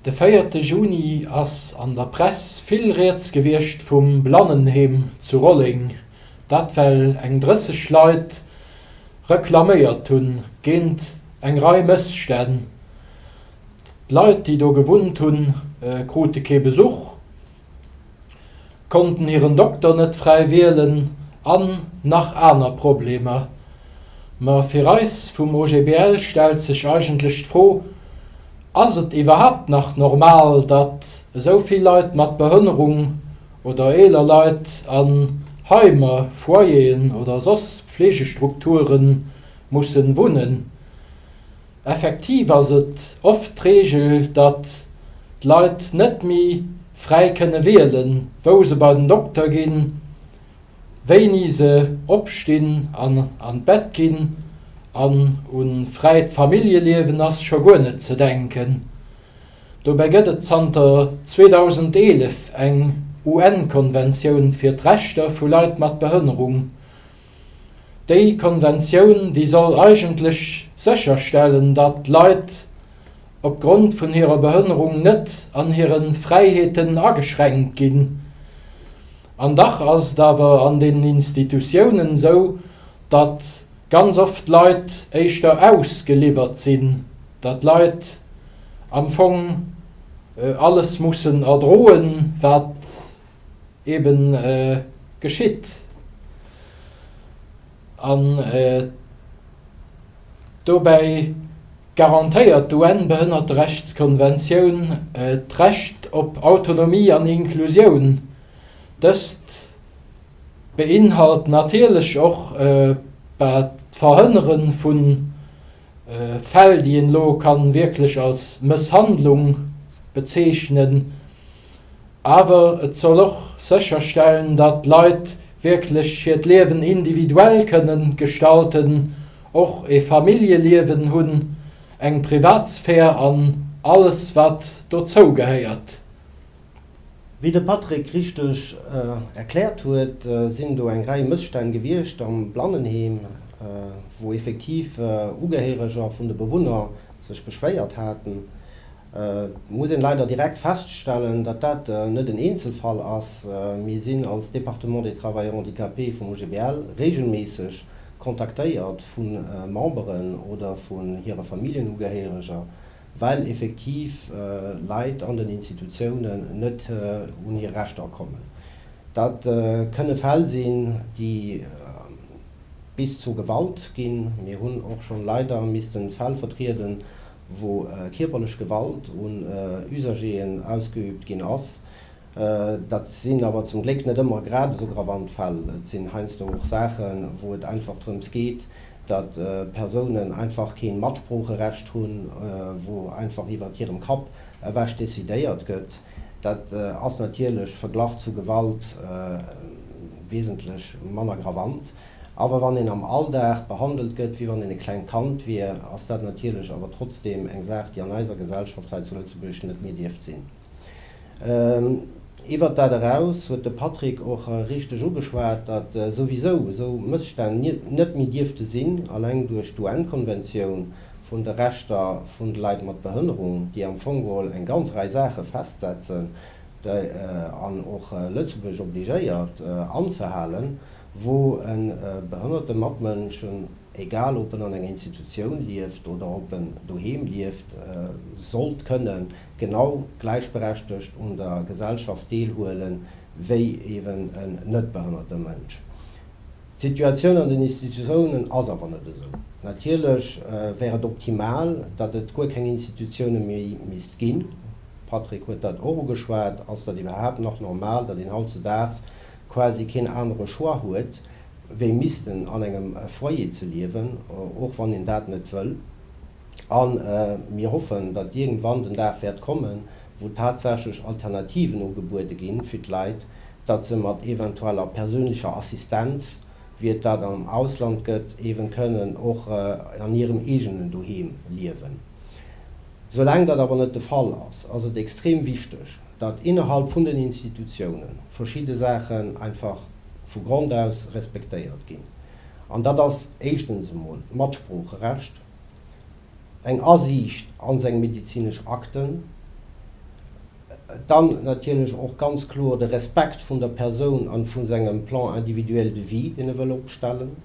De véierte Juni ass an der Press vill rieds gewiescht vum Blannenheem zu Rolleng. Dat well eng 30 Leit reklaméiert hu géint eng Rei Mësstänn. D'Leit, déi do gewunnt hunn, krute kee Besuch, konnten hiren Dokter net fräi wielen an nach aner Problemer. Ma fir eis vum OGBL stellt sech eigentlech d'Fro, Ass et iwwerhaapt nach normal, datt esou vill Leit mat Behënnerung oder eeler Leit an Heimer, Foyeren oder soss Fleegestrukture musse wunnen? Effektiv ass et oft d'Reegel, datt d'Leit net méi fräi kënne wielen, wou se bei den Dokter ginn, wéini se opstinn an an d'Bett ginn, an un fräit Familljeliewen ass scho guer net ze denken. Dobäi gëtt et zanter 2011 eng UN-Konventioun fir d'Rechter vu Leit mat Behënnerung, Déi Konventioun, déi soll eigentlech sécherstellen, datt Leit opgrond vun hirer Behënnerung net an hire Fräiheeten ageschränkt ginn. An dach ass et awer an den Institutiounen esou, datt ganz oft Leit éischter ausgeliwwert sinn, datt Leit am Fong alles mussen erdroen, wat. eben geschitt an dobäi garantéiert d'UN-Behënnerterechtskonventioun d'Recht op Autonomie an Inklusioun. Dëst beinhalt natierlech och d'Verhënnere vu Fäll, déi een elo wierklech als Mësshandlung bezeechnen. awer et soll och sécherstellen, datt d'Leit wierklech hiert Liewen individuell kënne gestalten, och e Familljeliewen hunn, eng Privatsphär an alles wat dozou gehéiert. Wéi de Patrick richteg erkläert huet, sinn do eng Rei Mësstänn gewiescht am Blannenheem, wou effektiv Ugehéireger vun de Bewunner sech beschwéiert haten. Et muss een leider direkt feststellen, datt dat net en Eenzelfall ass. Mir sinn als Département des Travailleurs handicapés vum OGBL regelméisseg kontaktéiert vu Memberen oder vun hire Familljenugehériger, well effektiv Leit an den Institutiounen net un hir Rechter kommen. Dat kënne Fäll sinn, déi bis zu Gewalt ginn. Mir hunn och schonn leider missten Fäll vertrieden, wou kierperlech Gewalt un Usager'en ausgeüübt ginn ass. Dat sinn awer zum Gléck net ëmmer grad esou gravant Fäll. Et sinn heiansdo och Saachen, wou et einfach drëms geet, datt Persounen einfach keen Matsproocherecht hunn, wou einfach iwwert hirem Kapp ewech decidéiert gëtt. Dat ass natierlech verglach zu Gewalt wesentlech manner gravant. Awer wann een am Alldag behandelt gëtt, wéi wann een e klengt Kand wier, ass dat natierlech awer trotzdeem eng Saach, déi an eiser Gesellschaft hei zu Lëtzebuerg net méi dierft sinn. Iwwert dat eraus huet de Patrick och richteg ugeschwat, datt souwisou esou Mësstänn net méi dierfte sinn, alleng duerch d'UN-Konventioun vun de Rechter vun de Leit mat Behënnerung, déi am Fong geholl eng ganz Rei Saache festsetzen an och Lëtzebuerg obligéiert anzehalen. wou e behënnerte Matmënsch, egal ob en an enger Institutioun lieft oder ob en doheem lieft, sollt kënne genau gläichberechtegt un der Gesellschaft deelhuele wéi eeben en net behënnerte Mënsch. D'Situatioun an den Institutiounen ass awer net esou. Natierlech wär et optimal, datt et guer keng Institutioune méi misst ginn. D'Patrick huet dat och ugeschwat. Ass dat iwwerhaapt nach normal, datt een hautzedaags quasi keen anere Choix huet, wéi missten an engem Foyer ze liewen, och wann een dat net wëll. A mir hoffen, datt iergendwann den Dag wäert kommen, wou tatsächlech Alternativen ugebuede ginn, fir d'Leit, datt se mat eventueller perséinlecher Assistenz, wéi et dat am Ausland gëtt, eeben kënnen och an hirem eegenen Doheem liewen. Soulaang dat awer net de Fall ass, ass et extrem wichteg, datt innerhalb vun den Institutiounen verschidde Saachen einfach vu Grond aus respektéiert ginn. An dat ass éischtens emol d'Matsproocherecht, eng Asiicht an seng medezinesch Akten, dann natierlech och ganz kloer de Respekt vun der Persoun a vu sengem Plan individuel de vie, deen e wëll opstellen.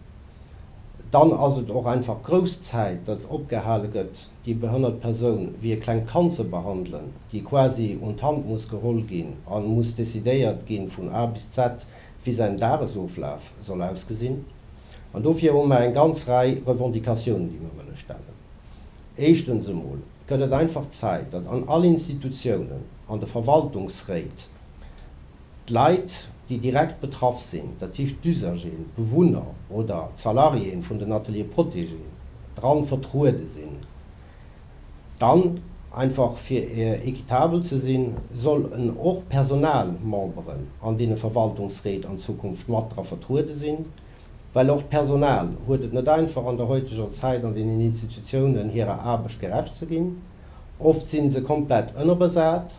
Dann ass et och einfach grouss Zäit, datt opgehale gëtt, déi behënnert Persoun wéi e klengt Kand ze behandelen, déi quasi un d'Hand muss geholl ginn an muss decidéiert ginn vun A bis Z, wéi säin Dagesoflaf soll ausgesinn. An dofir hu mer eng ganz Rei Revendicatiounen, déi mer wëlle stellen. Éischtens emol gëtt et einfach Zäit, datt an all Institutiounen, an de Verwaltungsréit, D'Leit, déi direkt betraff sinn, dat heescht d'Usager'en, d'Bewunner oder d'Salariéen vun den Ateliers protégés, dran vertruede sinn. Dann, einfach fir équitabel ze sinn, soll en och Personalmemberen an deene Verwaltungsréit an Zukunft mat dra vertruede sinn, well och d'Personal huet et net einfach an der heuteger Zäit an deenen Institutiounen hirer Aarbecht gerecht ze ginn. Oft si se komplett ënnerbesat.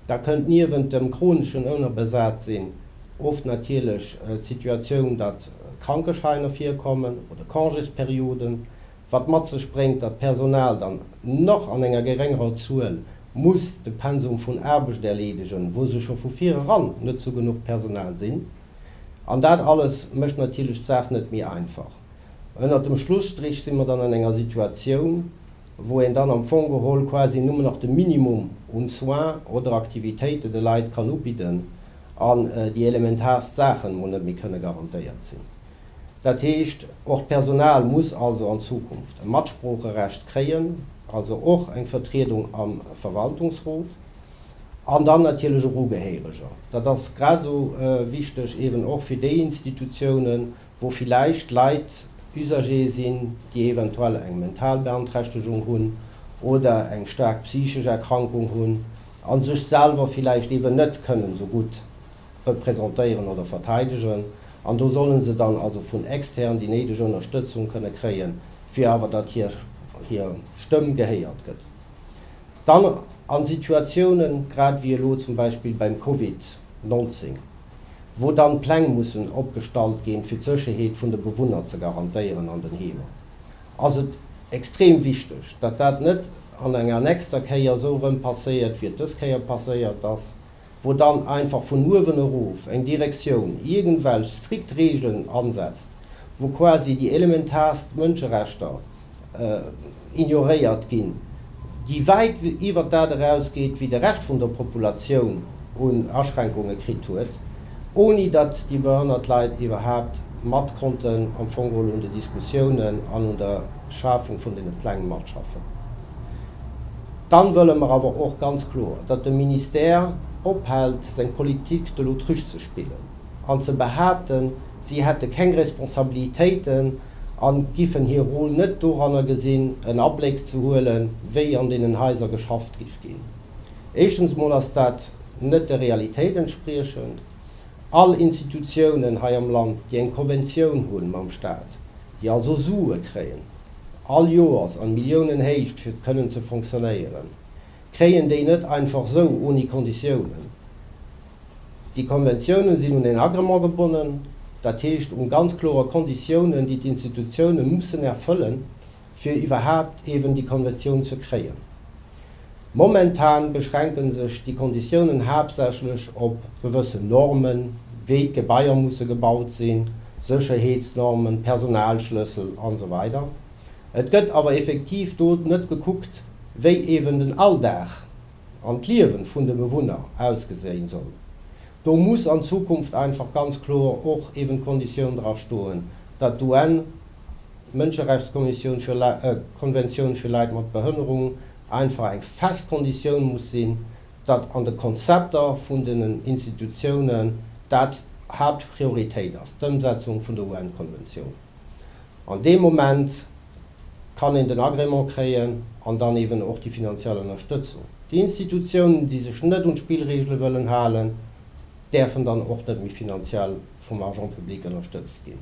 Da kënnt niewent dem chroneschen Ounnerbesatsinn oft natierlech d'Situatioun, datt Krankeschäiner virkommen oder Congésperioden, wat mat sech bréngt, datt d'Personal dann nach an enger geréngerer Zuel muss de Pensum vun Aarbecht erleedegen, wou se scho vu vireran net zu genuch Personal sinn. An dat alles mécht natierlech d'Saach net méi einfach. Ënnert dem Schlusstrich si mer dann an enger Situatioun, wou een dann am Fong geholl quasi nëmmen nach de Minimum un Soins oder Aktivitéiten de Leit kann ubidden an déi elementaarst Saachen emol net méi kënne garantéiert sinn. Dat heescht, och d'Personal muss also an Zukunft e Matsproocherecht kréien, also och eng Vertriedung am Verwaltungsrot an dann natierlech och Ugehéireger. Dat ass grad esou wichteg, eben och fir déi Institutionen, wou villäicht Leit Usagere sinn, déi eventuell eng mental Beanträchtegung hunn oder eng staark psychesch Erkrankung hunn a sech selwer villäicht eeben net kënnen esou gutt representéieren oder verteidegen. An do solle se dann also vun extern déi néideg Ënnerstëtzung kënne kréien, fir awer datt hir hir Stëmm gehéiert gëtt. Dann a Situatiounen, grad wéi elo zum Beispill beim Covid, 19, wou dann Pläng mussen opgestallt ginn, fir d'Sécherheet vun de Bewunner ze garantéieren an den Heemer, ass et extrem wichteg, datt dat net an enger nächster Kéier esou erëm passéiert, wéi et dës Kéier passéiert ass, wou dann einfach vun uewen erof eng Direktioun iergendwelch strikt Regeln ansetzt, wou quasi déi elementarst Mënscherechter, ignoréiert ginn, déi wäit iwwert dat eraus geet, wéi de Rescht vun der Populatioun un Aschränkunge kritt huet, oni datt déi behënnert Leit iwwerhaapt mat konnten am Fong geholl un de Diskussiounen an un der Schafung vun deene Pläng matschaffen. Dann wëlle mer awer och ganz kloer, datt de Ministère ophält seng Politique de l'autruche ze spillen an ze behaapten, si hätte keng Responsabilitéiten a giffen hir Rôle net doranner gesinn, en Abléck ze huelen, wéi an deenen Haiser geschafft giff ginn. Éischtens mol ass dat net der Realitéit entspriechend. All Institutiounen hei am Land, déi eng Konventioun hu mam Stat, déi also Sue kréien all Joers a Milliounenhéicht, fir kënnen ze fonctionnéieren, kréien déi net einfach sou ouni Konditiounen. Déi Konventiounen sinn un en Agrement gebonnen, dat heescht un ganz klore Konditiounen, déi d'Institutiounen mussen erfëllen, fir iwwerhaapt eeben déi Konventioun ze kréien. Momentan beschränken sech déi Konditiounen haaptsächlech op gewëssen Normen, wéi d'Gebaier musse gebaut sinn, Sécherheetsnormen, Personalschlëssel, an esou weider. Et gëtt awer effektiv do net gekuckt, wéi eeben den Alldag an d'Liewe vun de Bewunner ausgeséien soll. Do muss an Zukunft einfach ganz kloer och eeben d'Konditioun dra stoen, datt d'UN Mënscherechtskommissioun fir Konventioun fir Leit mat Behënnerung einfach eng fest Konditioun muss sinn, datt an de Konzepter vun den Institutiounen dat Haaptprioritéit ass, d'Ëmsetzung vun der UN-Konventioun. An deem Moment kann een den Agrément kréien an dann eeben och déi finanziell Ënnerstëtzung. Déi Institutiounen, déi sech net un d'Spillregele wëllen halen, däerfen dann och net méi finanziell vum Argent public ënnerstëtzt ginn.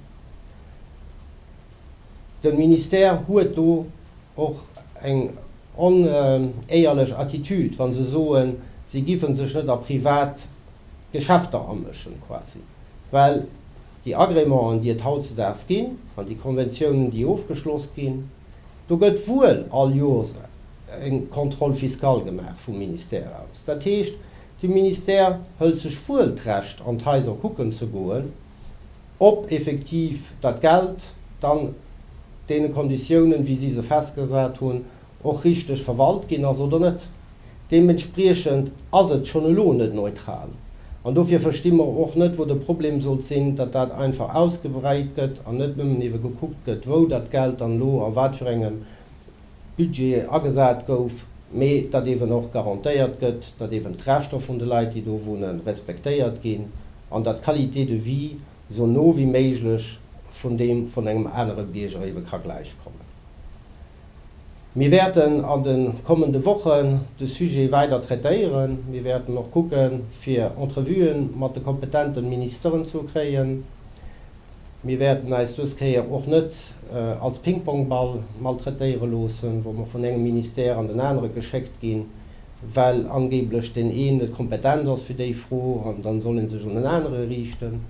De Ministère huet do och eng onéierlech Attitude, wa se soen, si géife sech net a privat Geschäfter amëschen quasi, well, Déi Agrémenten, déi et hautzedaags ginn, an déi Konventiounen, déi ofgeschloss ginn, do gëtt wuel all Jors eng Contrôle fiscal gemaach vum Ministère aus. Dat heescht, de Ministère hëlt sech wuel d'Recht, an d'Haiser kucken ze goen, ob effektiv dat Geld dann deene Konditiounen, wéi si se festgesat hunn, och richteg verwalt ginn ass oder net. Deementspriechend ass et schonn elo net neutral. An dofir versti mer och net, wou de Problem sollt sinn, datt dat einfach ausgebreit gëtt an net nëmmen eebe gekuckt gëtt, wou dat Geld dann elo a wat fir engem Budget agesat gouf, mee datt eeben och garantéiert gëtt, datt eeben d'Rechter vun de Leit, déi do wunnen, respektéiert ginn an datt d'Qualité de vie esou no wéi méiglech vun deem vun engem anere Bierger eebe ka gläichkommen. Mir wäerten an de kommende Wochen de Sujet weider traitéieren. Mir wäerten och kucke fir Entrevuen mat de kompetente Ministeren ze kréien. Mir wäerten eis dës Kéier och net als Pingpongball maltraitéiere loossen, wou mer vun engem Ministère an den anere geschéckt ginn, well angeeblech deen een net kompetent ass fir déi Fro, an dann soll ee sech un en anere riichten.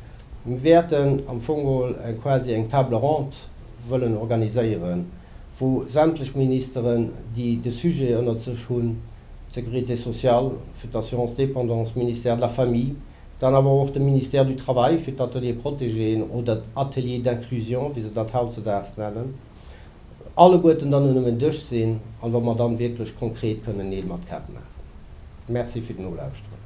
Mir wäerten am Fong mol eng quasi eng Table ronde wëllen organiséieren, wou sämtlech Ministeren, déi de Sujet ënnert sech hunn, d'Sécurité sociale fir d'Assurance dépendance, Ministère de la Famille, dann awer och de Ministère du Travail fir d'Ateliers protégés oder d'Ateliers d'inclusion, wéi se dat hautzedaags nennen, alleguerten dann un engem Dësch sinn an wa mer dann wierklech konkret kënnen Neel mat Käpp maachen. Merci fir d'Nolauschteren.